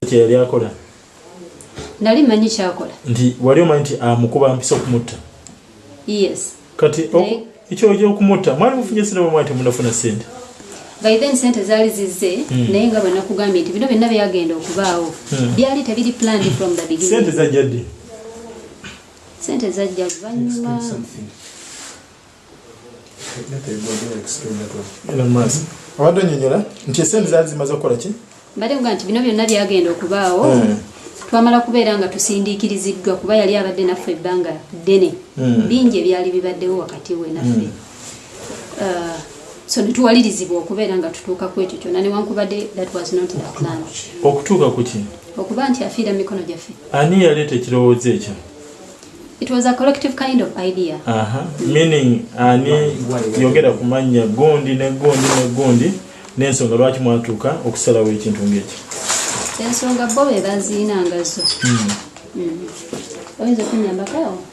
kyeyali akola nali manyi kyakola nti wali omanyi nti amukuba ah, mpisa okumutta yes kati ekyo okyokumutta mwali mufunye sente bamwali temunafuna sente by then sente zaali zizze hmm. naye nga bwenakugambye nti bino byonna byagenda okubaawo hmm. byali tebiri planned from the beginning sente zajjadde sente zajja luvannyuma abadde onyonyola nti esente zaali zimaze okukola ki mbadde kuga nti bino byonna byagenda okubaawo hmm. twamala kubeera nga tusindiikiriziddwa kuba yali abadde naffe ebbanga ddene hmm. bingi ebyali bibaddewo wakati we naffe hmm. uh, so netuwalirizibwa okubeera nga tutuuka ku ekyo kyona newankubadde that was not the plan okutuuka kuki okuba nti afiira mu mikono gyaffe ani yaleeta ekirowoozo ekyo it was a collective kind of idea uh -huh. meaning ani yogera ku mannya gundi ne gundi ne gundi n'ensonga lwaki mwatuuka okusalawo ekintu ng'ekyo ensonga bo be baziinangazo hmm. hmm. oyinza okunyambakao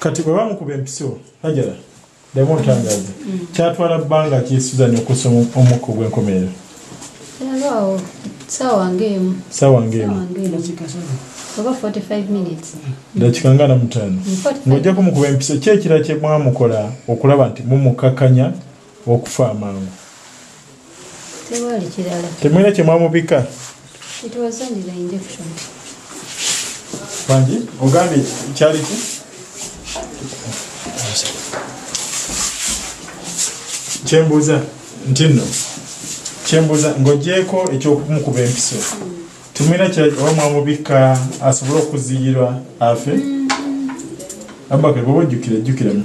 kati bwe bamukuba empiso hajara demu otangaza mm. kyatwala bbanga ki suzan okusa omukka ogw'enkomerero dakika nga namutaano ng'ojja kumukuba empiso ki ekira kye mwamukola okulaba nti mumukakanya okufa amangu tewali kirala temulina kye mwamubika it was only the injection bangi ogambye kyali ki kyembuuza nti nno kyembuuza ng'ogyeko ekyokumukuba empiso tumina oba mwamubikka asobole okuziyirwa afe mm-hmm. abaka bwoba ojjukira jjukiramu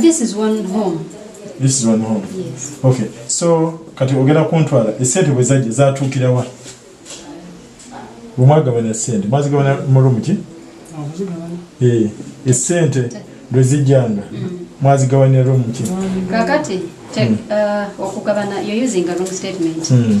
This is one home. This is one home. Yes. Okay. So kati ogera kuntwala esente bwe zajja zaatuukira wa? Bwe mwagabana sente mwazigabana mu room ki? Eh, esente lwe zijjanga mm. mwazigabanira room ki? Kakati check mm. uh, okugabana you're using a wrong statement. Mm.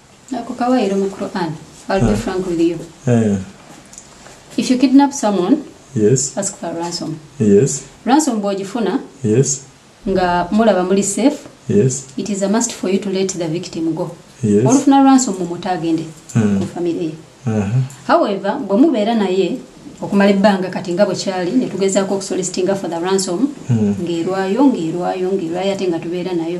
Ako kawayiro mu Quran. I'll be frank with you. Eh. If you kidnap someone, yes. ask for ransom. Yes. Ransom bw'ogifuna. Yes. Nga mulaba muli safe. Yes. It is a must for you to let the victim go. Yes. Olufuna ransom mu mutu agende mm. ku family ye. Uh -huh. However, bwe mubeera naye okumala ebbanga kati nga bwekyali netugezaako okusolisitinga for the ransom hmm. ng'erwayo ng'erwayo ng'erwayo ate nga tubeera nayo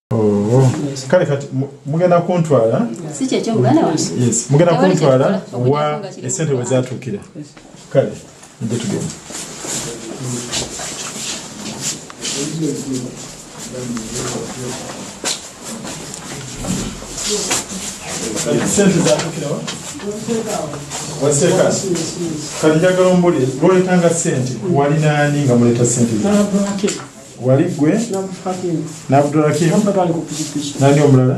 Oh. kale kati mugenda kuntwala mugenda kuntwala wa esente we zatuukira kale nje tugenda sente zatuukirawa waseeka kati njagala ombulire lwolekanga sente walinaani nga muleta sente wali gwe nabdurakim nani omulala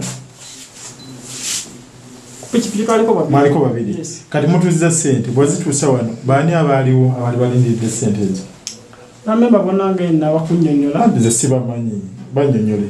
mwaliko babiri kati mutuuziza sente bwezituusa wano baani abaaliwo abali balindiridde sente ezo nze sibamanyi banyonyole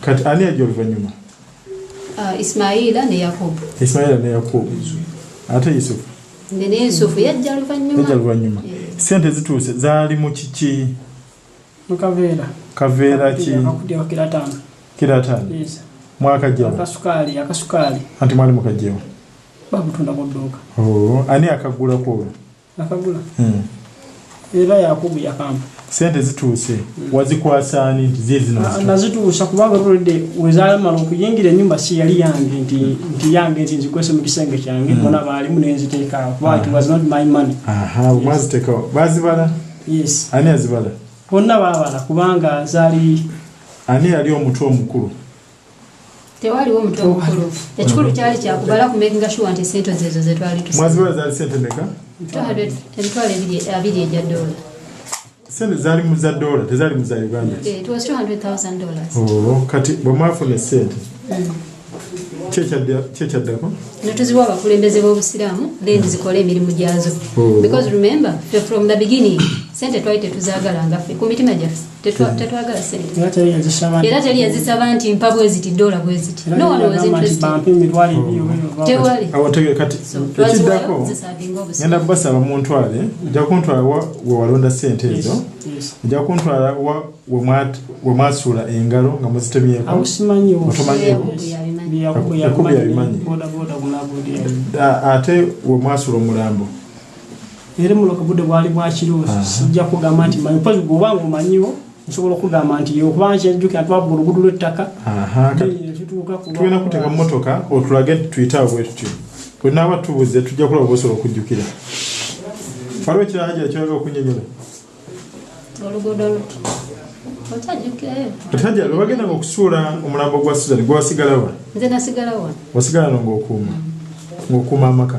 kati ani ajja oluvannyuma uh, ismaila ne yakobo ismaila ne yakobo ate yusufu ne yusufu yajja luvannyuma sente zituuse zaali mu kiki mukaveera kaveera ki kiratani mwaka jjao anti mwali mukajjewo oh, ani akagulako olwo akagula hmm. era yakubu yakampa sente zituuse hmm. wazikwasaani nti zizinazituusa ah, kubanga olwedde wezalamala okuyingira enyumba si yali yange nti yange nti nzikwese mu kisenge kyange hmm. bona baalimu nenziteekaawo kubaaaziteekawo bazibala yes ani azibala bonna babala kubanga zali ani yali omutwe omukulu tewaliwo mutwe mukulu ekikulu kyali kyakubala ku making sure nti sente zezo zetwali tusmwaziwala zali sente meka emitwalo abiri egya dola sente zali mu za dola tezali mu za uganda eh, oh, kati bwemwafuna esente mm. kyekyaddako netuziwa abakulembeze b'obusiraamu then zikole emirimu gyazo oh. because remember from the beginning sente twali tetuzagalanga fe ku mitima gyaffe tetwagala senteera teri yazisaba nti mpa bweziti dola bweziti ekiddako genda kubasaba muntwale ojja kuntwala wewalonda sente ezo ojja kuntwala wemwasuula engalo nga muzitemyekotomanyiekubi yabimanyi ate wemwasuula omulambo Era muno ku budde bwali bwa kiro sijja kugamba nti manyi because bw'oba ng'omanyiwo nsobola okugamba nti okubanga kyejjukira twabba oluguudo lw'ettaka tugenda kuteeka mmotoka otulage tuyite abwe tutyo bwe naaba tubuze tujja kulaba bosobola okujjukira waliwo ekirala gyera kyoyagala okunyonyola oluguudo luti otajja lwebagenda nga okusuula omulambo gwa suzan gwewasigalawa nze nasigalawa wasigala no ngaokuuma ngaokuuma amaka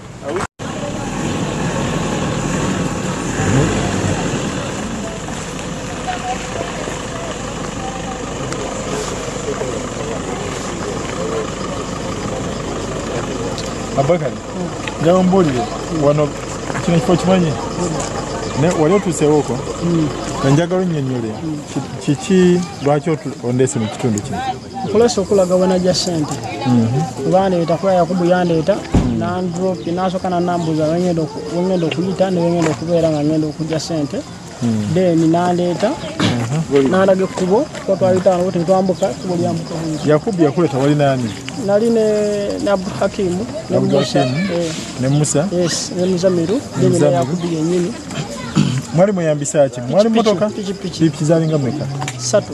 Abakari njaba mbuulire wano kino kifo kimanyi wali otuuseewo oko mm. enjagala onnyonnyole mm. kiki lwaki ondeese mu kitundu kino nkozesa okulaga wenajja sente kubandeeta mhm. kuba yakubu yandeeta mhm. nandropi nasoka nanambuza wengenda okuyita newengenda okubeera nga ngenda okujja sente mhm. then nandeeta nalaga ekkubo twatwayitaano tetwambuka kubo lyambuka yakubu yakuleta wali nani nali ne abdu hakimu ne musa eh. yes ne muzamiru then ne yakubu yenyini mwali muyambisa ki mwali motoka pikipiki zalinga mweka satu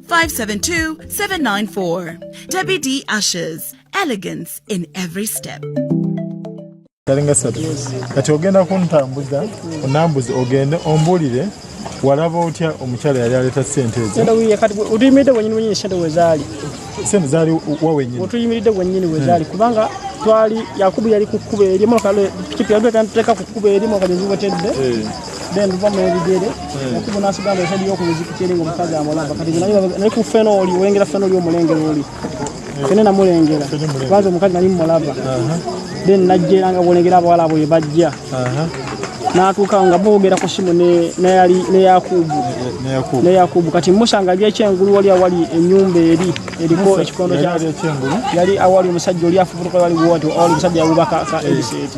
572-794. Debbie D. Ashes. Elegance in every step. kalinga satu kati ogenda kuntambuza onambuza ogende ombulire walaba otya omukyala yali aleeta sente ezootuyimiridde wenyini wenyini sente wezaali sente zaali wawenyini otuyimiridde wenyini wezaali hmm. kubanga twali yakubu yali ku kkuba erimu pikipiki yali teeka ku kkuba erimu kagezi wetedde eh. then luva mu ebigere okuba nasigamba esadi yokumuziku kyeri nga omukazi amulaba kati naye ku fena oli olengera fena oli omulengera oli fene namulengera kubanza omukazi nali mumulaba then najjera nga bolengera abawala abo yebajja natuuka nga boogera ku simu neyakubu neyakubu kati musa nga ali ekyengulu wali awali enyumba eri eriko ekikondo yali awali omusajja oli afubutuka wali wati awali omusajja awubaka ebiseeti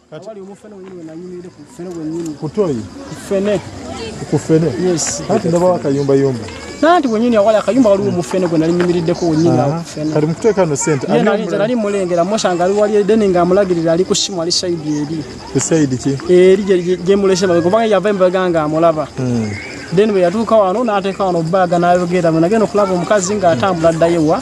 Kati omu fene wenyini wenanyumire ku fene wenyini. Kutoyi. Fene. Ku fene. Yes. Kati ndaba wakayumba yumba. Nanti wenyini awali akayumba waliwo omu fene gwe nali nyumiriddeko wenyini awo ku fene. Kati mukuteeka no sente. Ye nali nze nali mulengera musanga ali wali edeni nga amulagirira ali ku simu ali sayidi eri. Ku sayidi ki? Eri gye mulese babe kubanga yava embaga nga amulaba. Hmm. Then bwe yatuuka wano n'ateeka wano bbaaga n'ayogera bwe nagenda okulaba omukazi ng'atambula addayo wa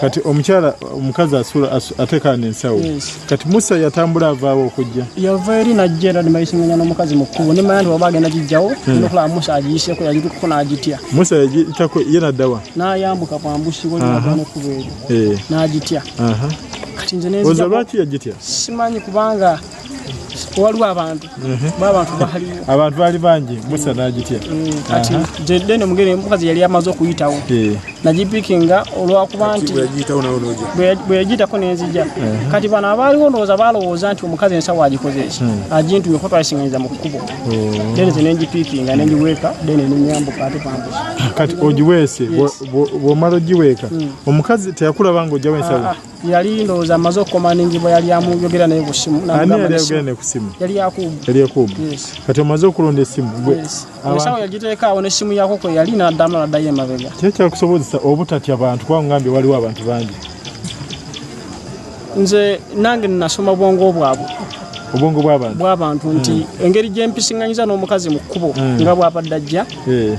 kati omukyala omukazi asula atekana ensawo kati musa yatambula avaawo okujja yava eri najja era nebayisinganya nomukazi mukkubo nemanya nti waba agenda gijjawo hmm. nokulaba musa agiyiseko yagitukuko nagitya musa yagitako ye naddawa nayambuka kwambusiko nekubo eryo eh. nagitya kati nze nzlwaki yagitya simanyi kubanga waliwo abantu abantu baliwo abantu bali bangi musa nagitya mm, kati jedde no mugere mukazi yali amaze okuyitawo eh. nagipikinga olwakuba nti bwe yagitako nenzija eh. kati bano abaaliwo ndowooza balowooza nti omukazi ensawo agikoze eki hmm. agintumye kuba twalisinganyiza mu kkubo then oh. ze nengipikinga nengiweeka then nenyambuka ate pambusa kati ogiweese bwomala ogiweeka hmm. omukazi teyakulaba nga ojjawo ensawo ah, ah. yali ndowooza amaze okukomandingibwa yali amuyogera naye ku simu yali yakubu kati omaze okulonda esimu esawo yagiteekaawo nesimu yako kwe yali naddamu naddayo emabega kyekyakusobozesa obutatya bantu kuba ngambye waliwo abantu bangi nze nange nasoma obwongo bwabwe obwongo bwabantu nti hmm. engeri gyempisiŋanyiza n'omukazi mu kkubo hmm. nga bwabadde ajja eh.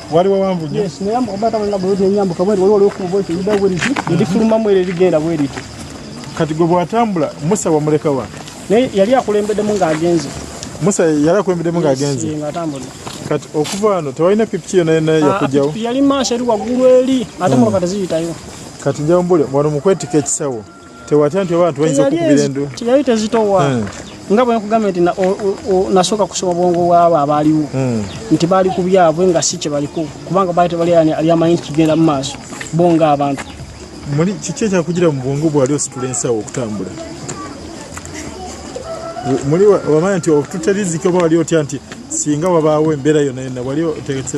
wali wawanvu nyo yes naye mukaba taba nga bwezi enyambu kabwe wali wali okubo ekyo yida wali ki ndi fuluma mwere ligenda wali ki kati gwe bwatambula musa wamuleka wa naye yali akulembede mu ng'agenze musa yali akulembede mu ng'agenze yes ngatambula kati okuva ano tewalina pipi yona yona ah, yakujjawo yali maaso eri waggulu eri ate hmm. mulokata ziyitayo kati njawumbule wano mukwetika ekisawo tewatya nti abantu bayinza okukubira endu teyali tezitowa hmm. nga bwe nkugambye nti nasooka kusoma bwongo bwabo abaaliwo hmm. nti baali ku byabwe nga si kye baliko kubanga baali tebali alyamanyi nti kigenda mu maaso bo nga abantu muli kiki ekyakugira mu bwongo bwali ositula ensawo okutambula muli wamanya nti otuterizika oba wali otya nti singa wabaawo embeera yona yona wali otegese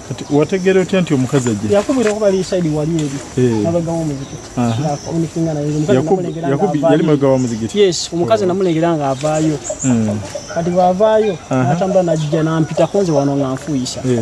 Kati wategera otya nti omukazi ajja? Yakubira okuba ali side wali eri. Eh. Nabaga wa muziki. Na communicating na yeye. Yakubu Yakubu yali maga wa muziki. Yes, omukazi oh. namulengera nga avaayo. Mm. Kati bavaayo natambula najja nampita konze wano nga nfuyisa. Eh.